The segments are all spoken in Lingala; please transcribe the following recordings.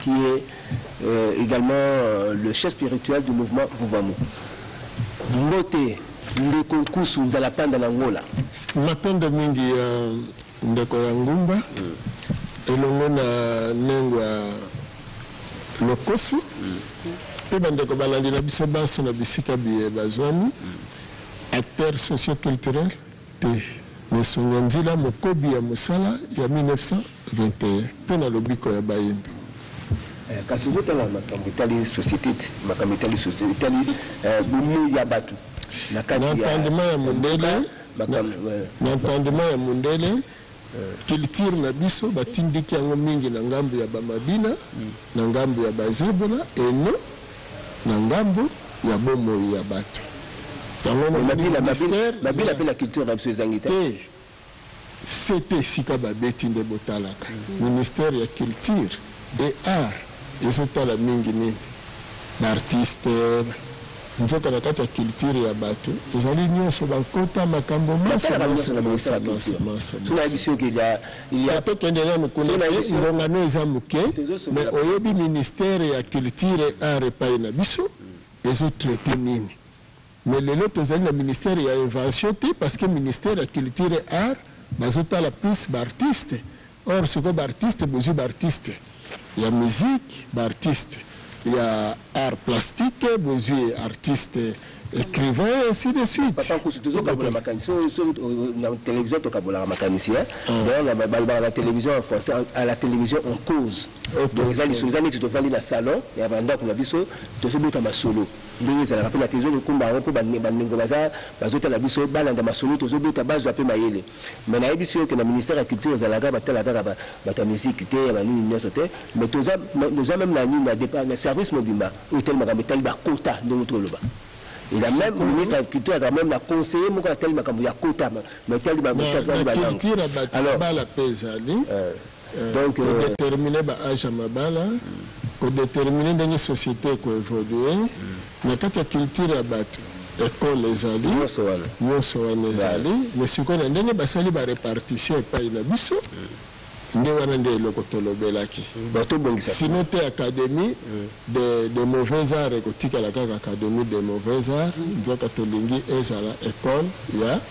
qui est egalement le chef spirituel du mouvement Vuvamu. Mbote ndeko Nkusu nzala panda na Angola. Matondo mingi ya ndeko ya ngumba elongo na Nengua Lokosi mpe bandeko balandi na biso banso na bisika biye bazwami. Acteur socio-culturel te mais songe nzila mokobi ya mosala ya 1900. 21 mpe na lobiko ya bayembi. Kasi ozo tala makambo etali societe te, makambo etali societe etali bomoyi ya batu na kati ya mboka. Na entendement ya mundele, na entendement ya mundele, culture na biso ba tindiki yango mingi na ngambo ya ba mabina, na ngambo ya ba zebola et non na ngambo ya bomoyi ya batu. Yango omoni ministère. Mabina mpe na culture na biso ezangi te? Te. CT esika ba beti nde bo talaka. Ministère ya culture et art ezo tala mingi nini? Ba artistes nzoka na kati ya culture ya batu ezali nionso ba nkota makambo manso manso manso manso manso manso. Tate kende nanu kuna te ngonga no eza muke mais oyebi ministère ya culture et art epayi na biso ezo traiter nini? Mais lelo tozali na ministère ya invention te parce que ministère ya culture et art bazo tala plus ba artistes or sikoyo ba artistes bozui ba artistes ya musique ba artistes ya art plastique bozui artistes ecrivains ainsi de suite. Papa Nkusu tozo kabola makanisi oyo soki na television tokabolaka makanisi hein. Donc balobaka na television en français à la télévision on cause. Donc eza lisolo eza neti tovandi na salon ya ba ndaku na biso tozo beta masolo. Ndenge ezalaka pe na kin ezo kumba yango po ba ndeko baza bazo tala biso ba landa masolo tozo beta bazwa pe mayele mais na yebisi yo ke na ministère ya culture ezalaka ba tala kaka batu ya musique te ya ba nini nionso te mais toza toza meme na nini na depart na service mobimba oyo etali makambo etali ba quota ndenge outi oloba et la meme ministre ya culture azalaka meme na conseiller moko atali makambo ya quota ma etali ba quota etali ba langue alors. Eh, Donc, ko euh, determiner ba age ya mabala ko determiner ndenge société eko évoluer na kati ya culture ya bato ekole ezali Nyonso wana. nyonso wana ezali mais sikoyo na ndenge basali ba répartition epai na biso nde wana nde eloko tolobelaki bato obongisa sinon te académie de, de mauvais art ekotikala kaka académie de mauvais art nzoka tolingi ezala école ya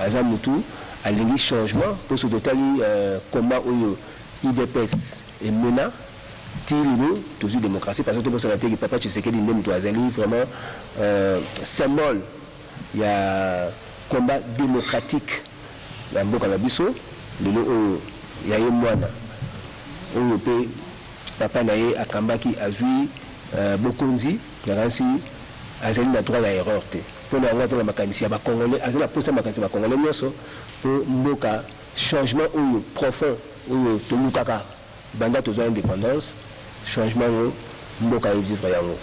Aza mutu alingi changement po soki totali combat oyo udps emena ti lelo tozui democratie parce que tobosana te ke papa Tshisekedi nde mutu azali vraiment symbole ya combat democratique na mboka na biso lelo oyo ya ye muana oyo pe papa na ye akambaki azui bokonzi nakanisi azali na droit ya erreur te. Pona yango aza na makanisi ya ba congolais aza na posa ya makanisi ya ba congolais nionso po mboka changement oyo profond oyo tolukaka banda tozua independance changement yango mboka e vivre yango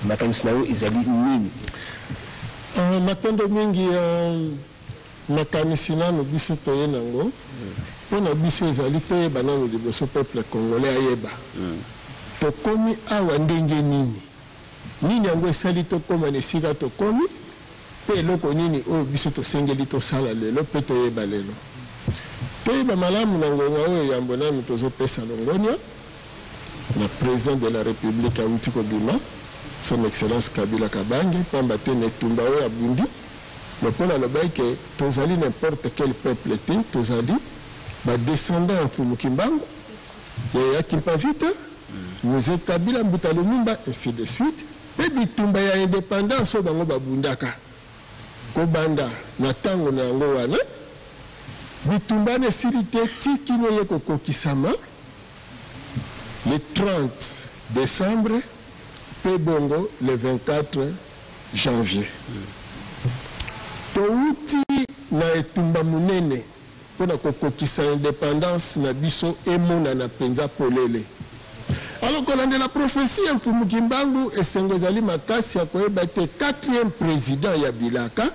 makanisi na yo ezali nini? Ahh matondo mingi euh makanisi nanu biso toye nango pona biso ezali toyeba nanu liboso peuple congolais ayeba tokomi awa ndenge nini? Nini yango esali tokoma na esika tokomi, mpe eloko nini oyo biso tosengeli tosala lelo mpe toyeba lelo? Toyeba malamu na ngonga oyo yambo nanu tozopesa longonya na President de la Republique awuti kobima, Son Excellence Kabila Kabange, mpamba te na etumba oyo abundi, lokola alobaki que tozali n'importe quel peuple te, tozali ba descendants ya Mfumu Kimbangu, ya Yakimpavita, Mzee Kabila, Mbuta Lumumba ainsi de suite mpe bitumba ya independance oyo bango babundaka kobanda na tango na yango wana bitumba wana esili te ti kino eye kokokisama le 30 decembre mpe bongo le 24 janvier towuti na etumba monene Mpo na kokokisa independance na biso emonana mpenza polele. Alors, kolandela prophetie ya Mfumu Kimbangu, esengo ezali makasi ya koyeba ete quatrième president ya bilaka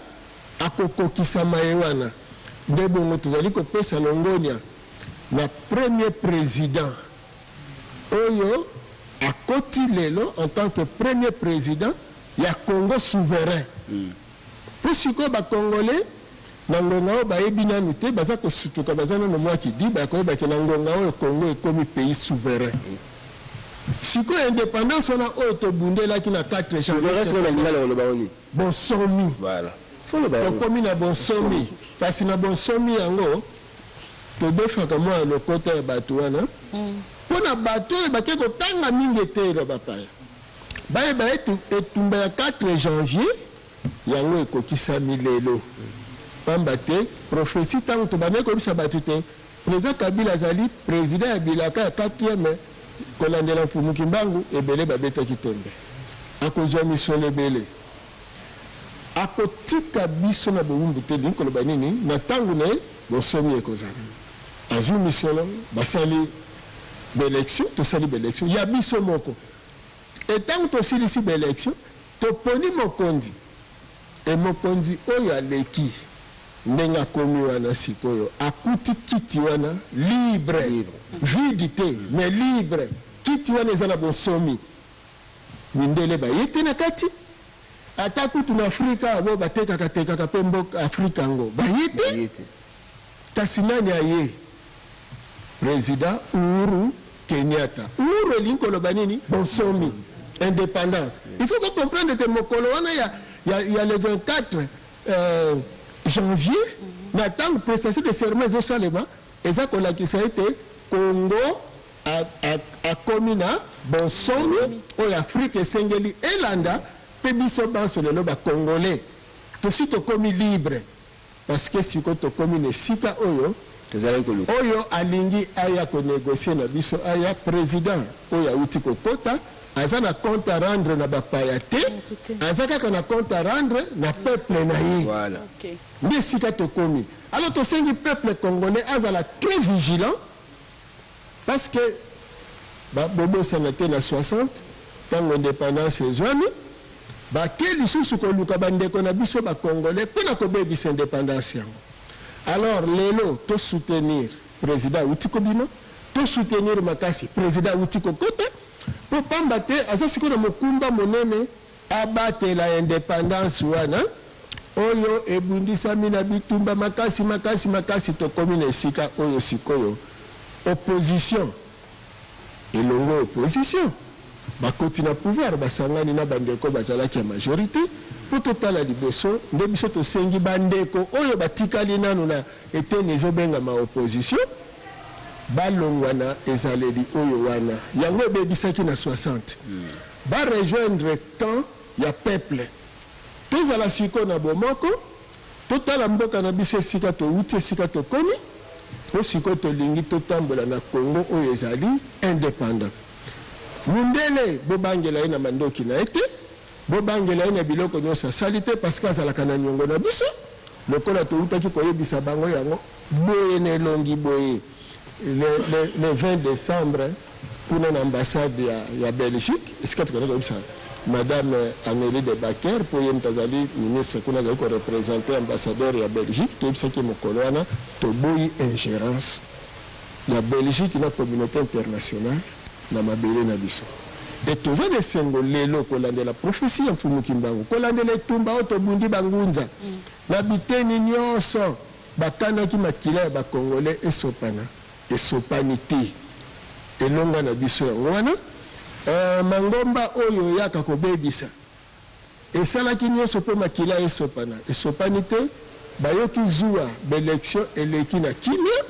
akokokisa maye wana. Nde bongo tozali kopesa longonya na premier president oyo akoti lelo en tant que premier president ya Congo souverain. Po sikoyo ba congolais na ngonga oyo bayebi nanu te, baza kosutuka, baza nanu mua kidiba ya koyeba ke na ngonga oyo Congo ekomi pays souverain. Sikoyo independance wana oyo tobundelaki na 4 janvier 79, bonsomi, tokomi na bonsomi, kasi na bonsomi yango todefaka mua lokota ya batu wana, pona batu oyo bake kotanga mingi eteyi lwa bapaya. Bayeba ete etumba ya 4 janvier yango ekokisami lelo. Pamba te, prophetie tango tobandaki koyebisa bato te President Kabila azali President ya bilaka ya quatrième, kolandela Mfumu Kimbangu, ebele babetaki tembe. Akozua misolo ebele. Akotika biso na bowumbu te, elingi koloba nini? Na tango na ye, bonsomi ekozala. Azui misolo, basali b'elections, tosali b'elections ya biso moko. Et tango tosilisi ba election toponi mokonzi et mokonzi oyo aleki ndenge akomi wana sikoyo akuti kiti wana libre vide te mais libre kiti wana eza na bonsomi mindele baye te na kati ata kutu na afrika oyo batekaka tekaka pe mboka afrika yango baye te Kasi nani aye? President Uhuru Kenyatta. Uhuru elingi koloba nini? Bonsomi. Independance. Il faut ko comprendre que mokolo wana ya, ya, ya le 24 euh, janvier na ntango prestation de serment ezosalema eza kolakisa ete Congo akomi na bonsomi oyo Afrique esengeli elanda mpe biso banso lelo bakongole tosi tokomi libre Parce que sikoyo tokomi na esika oyo oyo alingi aya ko negocier na biso aya, president oyo awuti kokota aza na compte à rendre na ba paya te, aza kaka na compte à rendre na peuple na ye. Nde esika tokomi. Alors tosengi peuple congolais azala très vigilant. Parce que ba bobosana te na 60 tango independance ezuami ba ke lisusu koluka ba ndeko na biso ba congolais pona kobebisa independance yango alors lelo to soutenir president awuti kobima to soutenir makasi president awuti kokota po pamba te aza sikoyo na mokumba monene abatela independance wana oyo ebundisami na bitumba makasi makasi makasi, tokomi na esika oyo sikoyo opposition elongwe opposition bakoti na pouvoir basangani na bandeko bazalaki ya majorite po totala liboso nde biso tosengi bandeko oyo batikali nanu na eteni ezobengama opposition balongwa na ezaleli oyo wana yango ebebisaki na 60. Ba rejoindre camp ya peuple tozala sikoyo na bomoko totala mboka na biso esika towuti esika tokomi po sikoyo tolingi totambola na Congo oyo ezali independant mundele bobangela ye na mandoki na ye te bobangela ye na biloko nionso asali te parce que azalaka na niongo na biso lokola towutaki koyebisa bango yango boye na elongi boye. Le, le, le 20 decembre kuna na ambassade ya, ya Belgique esika tokenda koyebisa madame Amelie de Baker mpo ye moto azali ministre kuna azali korepresente ambassadeur ya Belgique. Toyebisaki ye mokolo wana toboyi ingerence ya Belgique na communauté internationale na mabele na biso. E toza na esengo lelo kolandela profesi ya Mfumu Kimbangu, kolandela etumba oyo tobundi bangunza na biteni nyonso. Bakanaki makila ya ba congolais esopana, esopani te, elonga na biso yango wana eh, mangomba oyo oyaka kobebisa esalaki nionso po makila esopana, esopani te, bayoki zuwa, b'elections eleki na kimia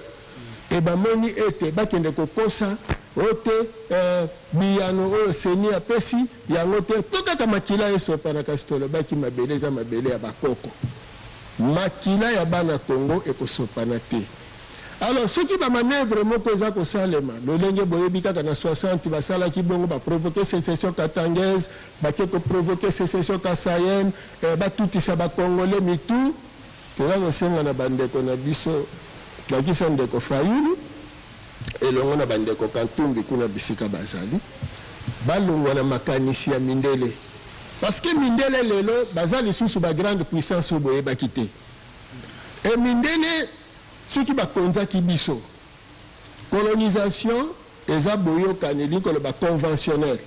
et bamoni ete bakende kokosa oh te eh, biyano oyo ceni apesi yango te po kaka makila esopana, kasi tolobaki mabele eza mabele ya bakoko. Makila ya bana Congo ekosopana te. Alors soki ba manoeuvres moko eza kosalema lolenge boyebi kaka na 60 basalaki bongo ba provoquer secession katangaise, bake ko provoquer secession kasaienne, eh batutisa ba congolais mitu. Toza kosenga na ba ndeko na biso, ndakisa ndeko Fayulu, elongo na bandeko Kantumbi kuna bisika bazali balongwa na makanisi ya mindele parce que mindele lelo baza lisusu ba grande puissance oyo boyebaki te et mindele soki bakonzaki biso colonisation eza boyokani elingi koloba conventionnel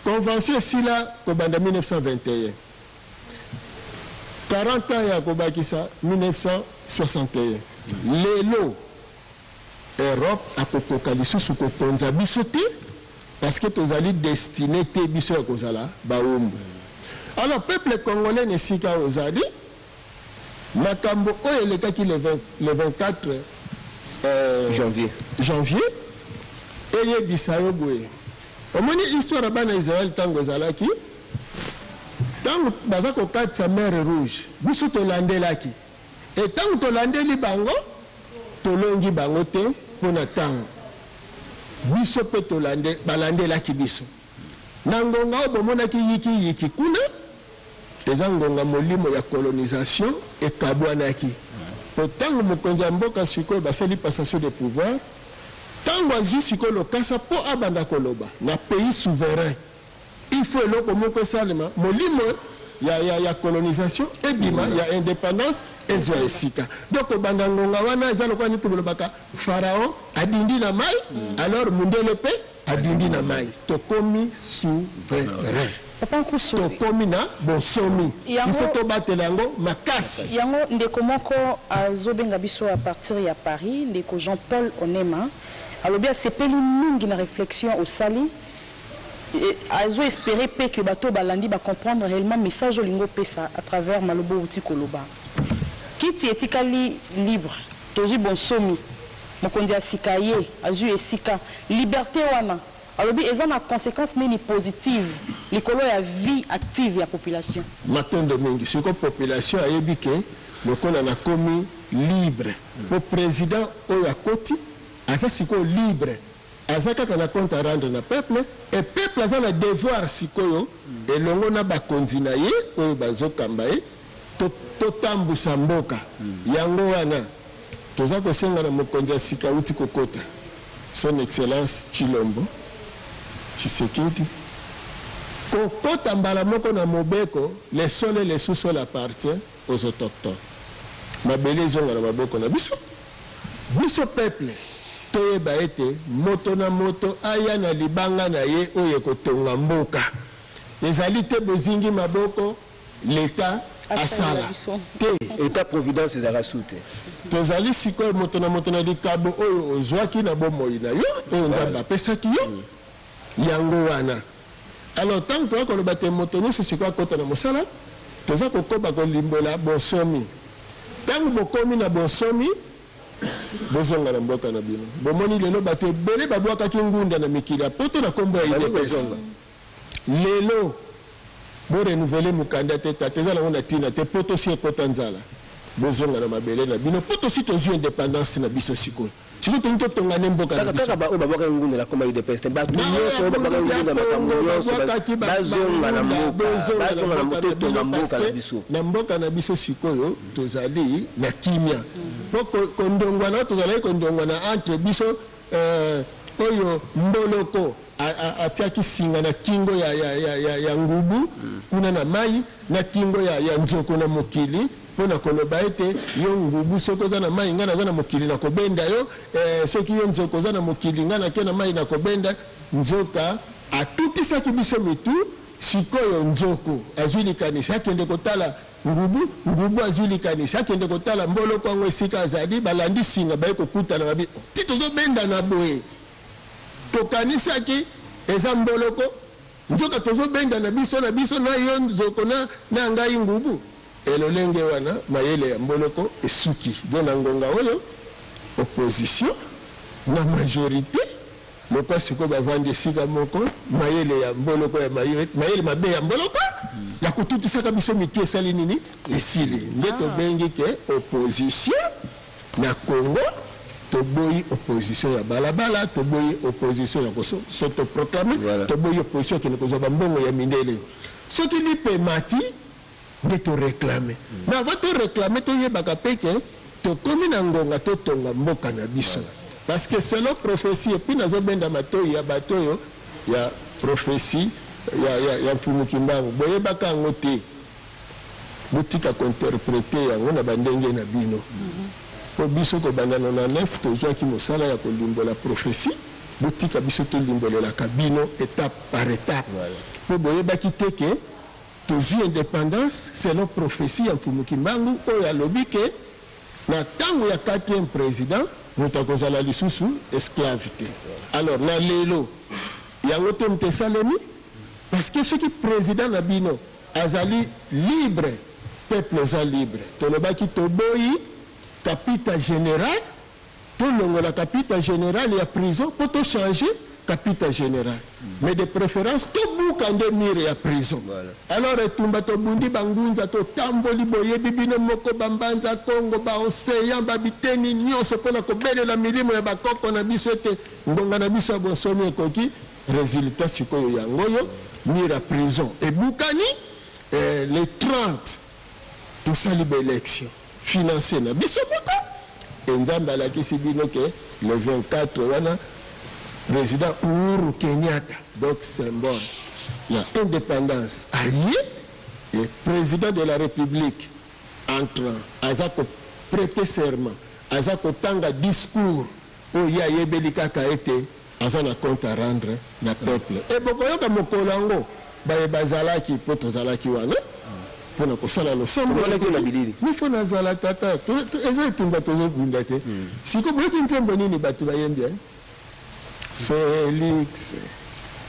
convention esila kobanda 1921 40 ans ya kobakisa 1961 lelo Europe akokoka lisusu kokonza biso te parceque tozali destine te biso ya kozala bawumbu alors peuple congolais na esika ozali makambo oyo elekaki le 24 euh, janvier, janvier eyebisa yo boye omoni histoire ya bana Israël ntango ezalaki ntango baza kokatisa mer rouge biso tolandelaki E ntango tolandeli bango, tolongi bango te mpo na ntango. Biso mpe tolande, balandelaki biso. Na ngonga oyo bomonaki yiki-yiki kuna, eza ngonga molimo ya colonisation ekabwanaki. Mpo ntango mokonzi ya mboka sikoyo basali passation de pouvoir, ntango azwi sikoyo lokasa mpo abanda koloba na pays souverain, Il faut eloko moko esalema molimo ya ya ya colonisation ebima ya independance ezwa esika donc kobanda ngonga wana eza lokola neti bolobaka pharaon adindi na mai alors mundele pe adindi na mai tokomi souverain Papa Nkusu, tokomi na bonsomi Yango- il faut tobatela yango makasi yango ndeko moko azobenga biso à partir ya Paris, ndeko Jean-Paul Onema, alobi asepeli mingi na reflexion osali Azo esperer pe que bato oyo balandi ba comprendre reellement message olingi opesa à travers maloba owuti koloba. Kiti etikali libre, tozui bonsomi, mokonzi ya sika aye, azui esika. Liberte wana alobi eza na consequence nini positive likolo ya vie active ya population? Matondo mingi. Sikoyo population ayebi que lokola nakomi libre, po president oyo akoti aza sikoyo libre. Aza kaka na compte a rendre na peuple et peuple aza na devoir sikoyo elongo na bakonzi na ye oyo bazo kamba ye to totambusa mboka. Yango wana toza kosenga na mokonzi ya sika awuti kokota son excellence Tshilombo Tshisekedi kokota mbala moko na mobeko le sol et le sous-sol appartient Ozotoktok mabele ezonga na maboko na biso biso peuple toyeba ete moto na moto aya na libanga na ye oyo ekotonga mboka ezali te bozingi maboko l'etat asala te. Etat providence ezalaka sous te. Tozali sikoyo moto na moto na likabo oyo ozwaki na bomoi na yo oyo nzambe apesaki yo yango wana. Alors tango toza koloba te moto nionso sikoyo akota na mosala, toza kokoba kolimbola bonsomi. Tango bokomi na bonsomi, bozonga na mboka na bino. Bomoni lelo bato ebele babwakaki ngunda na mikili ya poto na kombo ya udps. Lelo bo renouveler mukanda te tata eza nango na tina te poto esi ekota nzala. Bozonga na mabele na bino po tosi tozui independance na biso sikoyo. Sikoyo tolingi totonga nde mboka na biso. Kaka ba oyo babwakaki ngunda na kombo ya udps te. Batu nionso oyo babwakaki ngunda na makambo nionso bazonga na mboka. Bazonga na mboka totonga mboka na biso. Na mboka na biso sikoyo tozali na kimia. Po kondongwana oyo tozalaki kondongwana entre biso euh oyo mboloko atiaki singa na kingo ya ngubu kuna na mayi na kingo ya nzoko na mokili. Pona koloba ete yo ngubu soki oza na mayi nga naza na mokili na kobenda yo eh, soki yo nzoka oza na mokili nga nake na mayi na kobenda nzoka atutisaki biso mitu sikoyo nzoku azui likanisi akende kotala ngubu ngubu azui likanisi akende kotala mboloko yango esika azali balandi singa baye kokutana babi ti tozobendana boye tokanisaki eza mboloko Nzoka tozo bendana biso na biso na yo nzoko na na ngai ngubu et lolenge wana mayele ya mboloko esuki do na ngonga oyo opposition na majorite lokwa siko bavandi esika moko mayele ya mboloko ya mayele mabe ya mboloko ya kotutisaka biso mitu esali nini esili nde tobengi ke opposition Na Congo toboyi opposition ya bala bala, toboyi opposition ya ko s'auto proclamer, toboyi opposition ya kende kozua ba mbongo ya mindele. Soki lipa emati nde to reclamer. Mais avant to reclamer toyebaka pe que tokomi na ngonga totonga mboka na biso. Parce que selon prophetie et puis nazo benda matoyi ya batu oyo ya prophetie ya ya ya Mfumu Kimbangu boyebaka yango te. botika ko interpreter yango na ba ndenge na bino po biso kobanda 99 tozuaki mosala ya kolimbola prophetie botika biso tolimbolelaka bino etape par etape po boyebaki te ke tozui independance selon prophetie ya Mfumu Kimbangu oyo alobi ke na tango ya quatrième president moto akozala lisusu esclave te alors na lelo yango temte esalemi parce que soki president na bino Azali libre peuple eza libre tolobaki toboyi kapita general tolongola kapita general ya prison po to change kapita general mais de preference tobuka nde mur ya prison alors etumba tobundi ba ngunza totamboli boyebi bino moko ba mbanza kongo ba ocean ba biteni nionso pona kobelela milimo ya ba koko na biso ete ngonga na biso ya bonsomi ekoki Resultat sikoyo yango oyo, mur ya prison ebukani eh, le 30 tosali ba election finance na biso moko e Nzambe alakisi bino ke le 24 wana president Uhuru Kenyatta donc symbole ya independance aye e president de la republique entrant aza ko prete serment aza kotanga discours Po ye ayebeli kaka ete aza na compte a rendre na peuple et bokoyoka mokolo yango baye bazalaki po tozalaki wana pona kosala losambo ya ekoli mais faut nazala tata eza etumba tozo bunda te sikoyo boyoki nzembo nini batu bayembi hein Felix.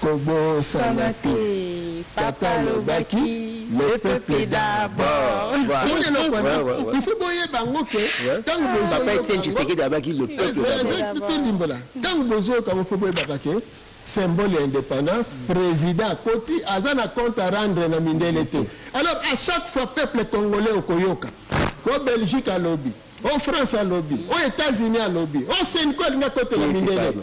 Kobosana te papa alobaki le peuple d'abord. Omoni eloko wana? Ouais, ouais, ouais. Il faut boyeba yango ke Ouais. ntango Papa Etienne bozoyoka yango- Tshisekedi abaki le peuple Ezali- d'abord. ezali d'abord. tolimbola ntango bozoyoka yango fo boyebaka ke symbole ya indépendance président akoti aza na compte à rendre na mindele te alors à chaque fois peuple congolais okoyoka o belgique alobi o france alobi o états-unis alobi o senco alingi akotela Oyebi mindele pardon.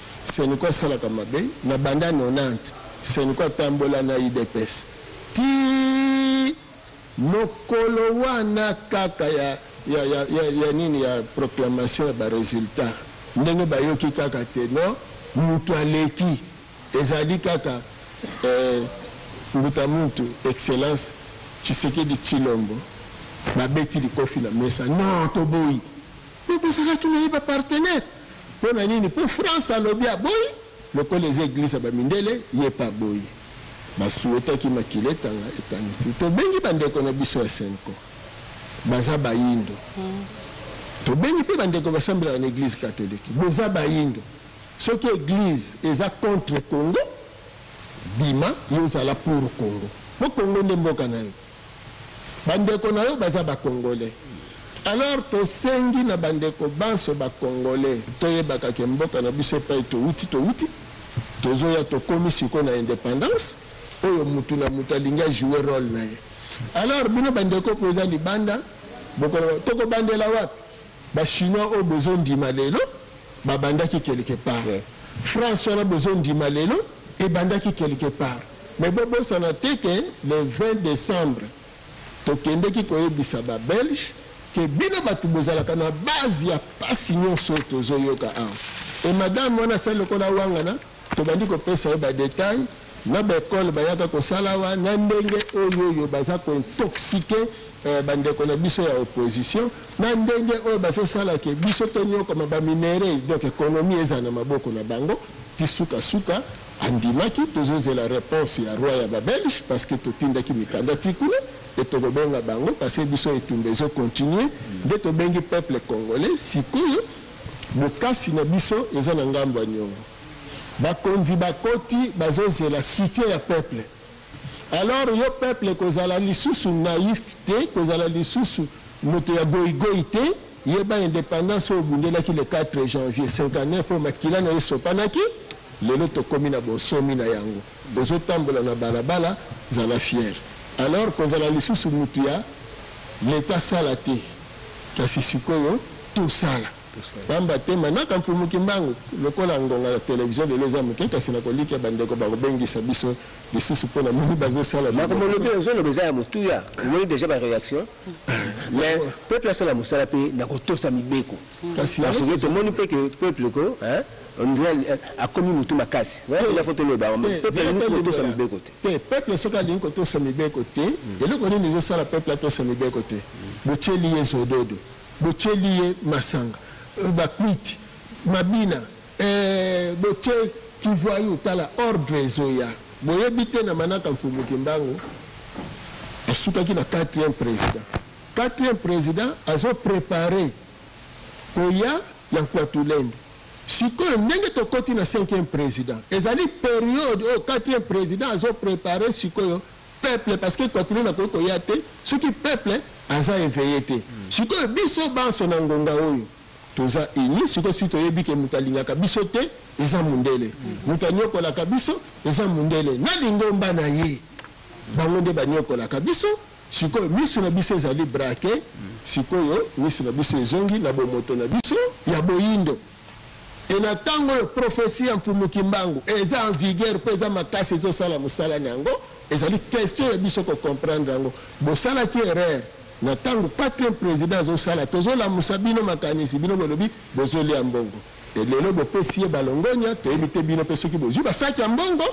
Seniko asalaka mabe na banda 90 seniko atambola na udps ti mokolo wana kaka ya ya ya ya nini ya proclamation ya ba resultats ndenge bayoki kaka te non mutu aleki ezali kaka eh, mbuta muntu excellence Tshisekedi Tshilombo babeti likofi na mesa non toboyi Mais bozalaki naye ba partenaire pona nini po France alobi aboyi lokola eza eglise ya ba mindele yepe aboyi ba souhaitaki makila etanga etangi te tobengi ba ndeko na biso ya cenco baza bayindo tobengi pe ba ndeko basambelaka na eglise catholique boza bayindo soki eglise eza contre congo bima yo zala pour congo po congo nde mboka nayo Ba ndeko na yo baza ba congolais alors tosengi na ba ndeko banso ba congolais toyebaka ke mboka na biso epayi towuti towuti tozoya tokomi sikoyo na independance oyo mutu na mutu alingi a jouer role na ye alors bino ba ndeko boza libanda bokoloba toko bandela wapi ba chinois oyo bozo ndima lelo babandaki quelque part France wana bozo ndima lelo ebandaki quelque part Mais bo bosana te ke le 20 decembre tokendeki koyebisa ba belges ke bino batu bozalaka na base ya pasi nionso oyo tozo yoka awa. Et madame wana asali lokola awangana, tobandi kopesa ye ba details na ba ecoles bayaka kosala awa, na ndenge oyoyo baza ko intoxiquer ba ndeko na biso ya opposition, na ndenge oyo bazo sala ke biso toniokama ba minerais, donc economie ezala na maboko na bango ti suka suka. Andimaki tozozela reponse ya roi ya ba belge parce que totindaki mikanda ti kuna et tokobenga bango parce que biso etumba ezo continuer nde tobengi peuple congolais sikoyo bokasi na biso eza na ngambo ya niongo bakonzi bakoti bazozela soutien ya peuple Alors yo peuple kozala lisusu naif te, kozala lisusu moto ya goyi goyi te, yeba independance oyo obundelaki le 4 janvier 59 oyo makila nayo esopanaki, lelo tokomi na bonsomi na yango, ozo tambola na balabala, zala fier. Alors kozala lisusu mutu ya l'etat sala te, kasi sikoyo tosala. Pamba te manaka Mfumu Kimbangu, lokola ngonga na television lelo eza moke, kasi nakolikia bandeko bakobengisa biso lisusu mpo namoni bazosala biloko. Makambo olobi oyo ozoloba eza ya motuya, omoni dejà ba reaction? Mais peuple asala mosala mpe na kotosa mibeko. Kasi yango tozo. Tomoni mpe que peuple ko hein on dirait akomi mutu makasi. Wana mpenza faut toloba yango, peuple alingi kotosa mibeko te. Te, peuple soki alingi kotosa mibeko te, eloko nini ezosala peuple atosa mibeko te? Botieli ye zododo. Botieli ye masanga, ba kwiti, mabina eeh botie ki voyou tala ordre ezoya boyebi te na manaka mfumu kimbangu asukaki na quatrième president quatrième president azo prepare koya ya nkuatulende sikoyo ndenge tokoti na cinquième president ezali periode oyo quatrième president azo prepare sikoyo peuple parce que equatorienne akoki koya te soki peuple aza eveille te sikoyo biso banso na ngonga oyo toza unis sikoyo si toyebi ke moto alingaka biso te eza mundele moto aniokolaka biso eza mundele na lingomba na ye bango nde baniokolaka biso sikoyo miso na biso ezali brake sikoyo miso na biso ezongi na bomoto na biso ya boyindo Et na tango oyo prophetie ya Mfumu Kimbangu eza en vigueur mpe eza makasi ezo sala mosala na yango, ezali question ya biso ko comprendre yango. Bosalaki erreur na tango quatrième president azo sala, tozo lamusa bino makanisi, bino bolobi bozo lia mbongo. Et lelo bopesi ye ba longonya, toyebi te bino mpe soki bozui ba sac ya mbongo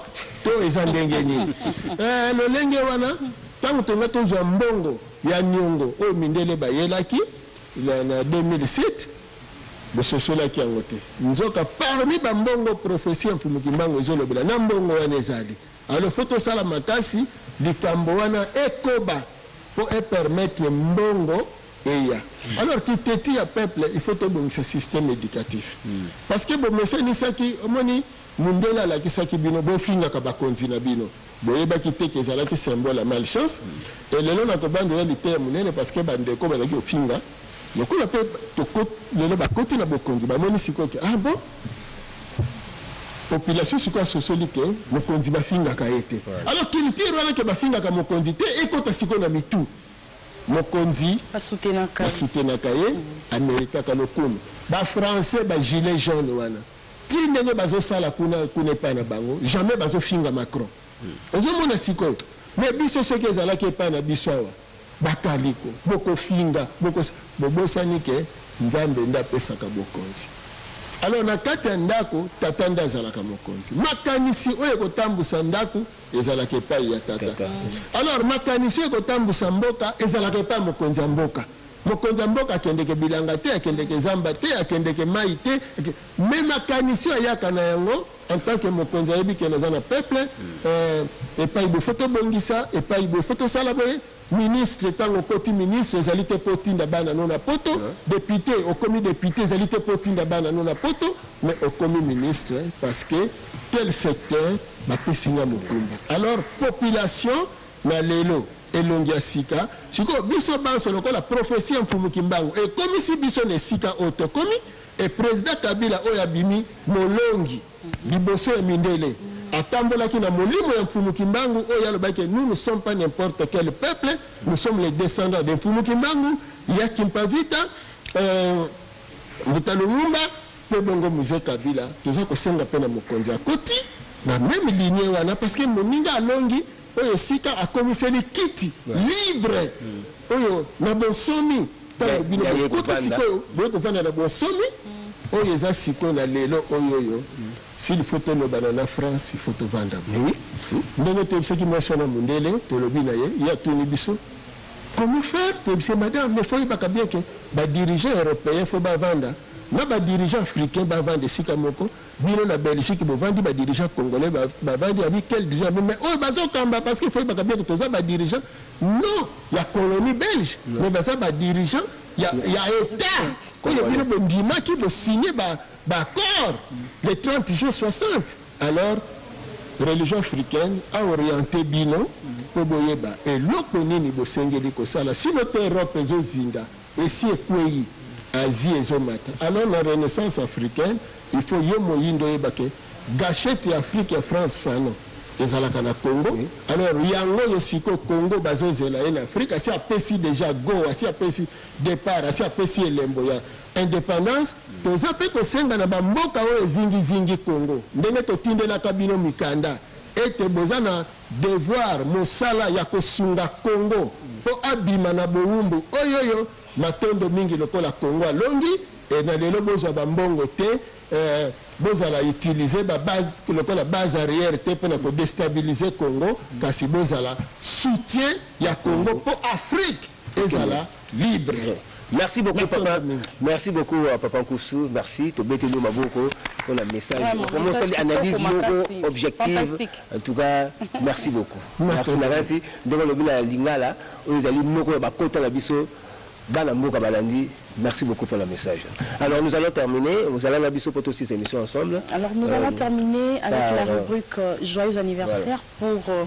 to eza ndenge nini? Eeh lolenge wana tango tolinga tozua mbongo ya niongo oyo mindele bayelaki na 2007, Bososolaki yango te. Nzoka parmi ba mbongo prophetie ya Mfumu Kimbangu ezo lobela na mbongo wana ezali. Alors faut tosala makasi likambo wana ekoba po e permettre mbongo eya. Alors ki teti ya peuple il faut tobongisa système educatif. Parce que bomesanisaki omoni. Mundele alakisaki bino bofingaka bakonzi na bino boyebaki te que ezalaki symbole ya mal chance et lelo na kobanza eza liteya munene parce que ba ndeko bazalaki kofinga lokola pe toko lelo bakoti na bokonzi bamoni sikoyo que ah bon population sikoyo asosoli que mokonzi bafingaka ye te alors culture wana que bafingaka mokonzi te ekota sikoyo na mitu mokonzi basutenaka ye ameritaka lokumu ba français ba gilet jaune wana Ti ndenge bazo sala kuna kuna epai na bango jamais bazo finga Macron ozo mona sikoyo mais biso soki ezalaki epai na biso awa ba kaliko boko finga boko bobosani ke nzambe nde apesaka bokonzi alors na kati ya ndako tata nde azalaka mokonzi makanisi oyo ekotambusa ndako ezalaka epai ya tata alors makanisi oyo ekotambusa mboka ezalaka epai mokonzi ya mboka Mokonzi ya mboka akendeke bilanga te, akendeke zamba te, akendeke mayi te, ake... mais makanisi oyo ayaka na yango en tant que mokonzi ayebi ke naza na peuple eh, epai boye faut tobongisa, epai boye faut tosala boye ministre ntango okoti ministre ezali te mpo otinda bana no na poto depute okomi depute ezali te mpo otinda bana no na poto mais okomi ministre parce que tel secteur bapesi nga mokumba alors population na lelo Elongi ya sika. Sikoyo, biso banso, lokola prophetie ya Mfumu Kimbangu ekomisi biso na esika oyo tokomi, et President Kabila oyo abimi molongi liboso ya mindele, atambolaki na molimo ya Mfumu Kimbangu oyo alobaki que nous ne sommes pas n'importe quel peuple, nous sommes les descendants de Mfumu Kimbangu, ya Kimpavita, euh, Mbuta Lumumba, pe bongo Mzee Kabila. Toza kosenga pe na mokonzi akoti na meme lignee wana, parce que moninga alongi. oyo esika akomiseli kiti libre oyo na bonsomi ntango bino bokoti sikoyo boye kovanda na bonsomi oyo eza sikoyo na lelo oyo oyo s'il faut tolobana na france il faut tovanda boye ndenge toyebisaki mwasi wana mondele tolobi na ye ye atuni biso comment faire toyebise madame mais fo oyebaka bien ke badirigeant européen fo bavanda na badirigeant africain bavanda esika moko Bino na Belgique bovandi ba dirigeants congolais bavandi abi quel dirigeant mais mais oyo bazo kamba parce que faut yebaka bien que toza ba dirigeants non ya colonie belge mais baza ba dirigeants ya ya etat oyo bino bondimaki bo signer ba ba accords le 30 juin 60 alors religion africaine a orienté bino mpo boyeba eloko nini bosengeli kosala sino te europe ezozinda Esi ekweyi, Asie ezo mata. Alors na renaissance africaine il faut yo moyindo oyeba ke gachette ya Afrique ya France Fanon ezalaka na Congo. Alors yango oyo sikoyo Congo bazo zela ye na Afrique asi apesi deja go, asi apesi depart, asi apesi elembo ya independance. Toza pe kosenga na ba mboka oyo ezingi zingi Congo ndenge totindelaka bino mikanda ete boza na Devoir, mosala ya kosunga Congo mpo abima na bowumbu oyoyo matondo mingi lokola Congo alongi et na lelo bozwa ba mbongo te eh, bozala utiliser ba base lokola base arrière te mpo na ko destabiliser Congo kasi bozala soutien ya Congo mpo Afrique ezala libre Merci beaucoup papa. Merci beaucoup euh, papa Nkusu. Merci tobeteli yo maboko pour la message. Vraiment osali analyse moko objective. En tout cas, merci beaucoup. Merci makasi. Ndeko lobi na lingala oyo ezali moko ya bakota na biso bana mboka balandi Merci beaucoup pour le message. Alors nous allons terminer, nous allons la biso poto six émissions ensemble. Alors nous allons euh, terminer avec la euh, rubrique euh, joyeux anniversaire pour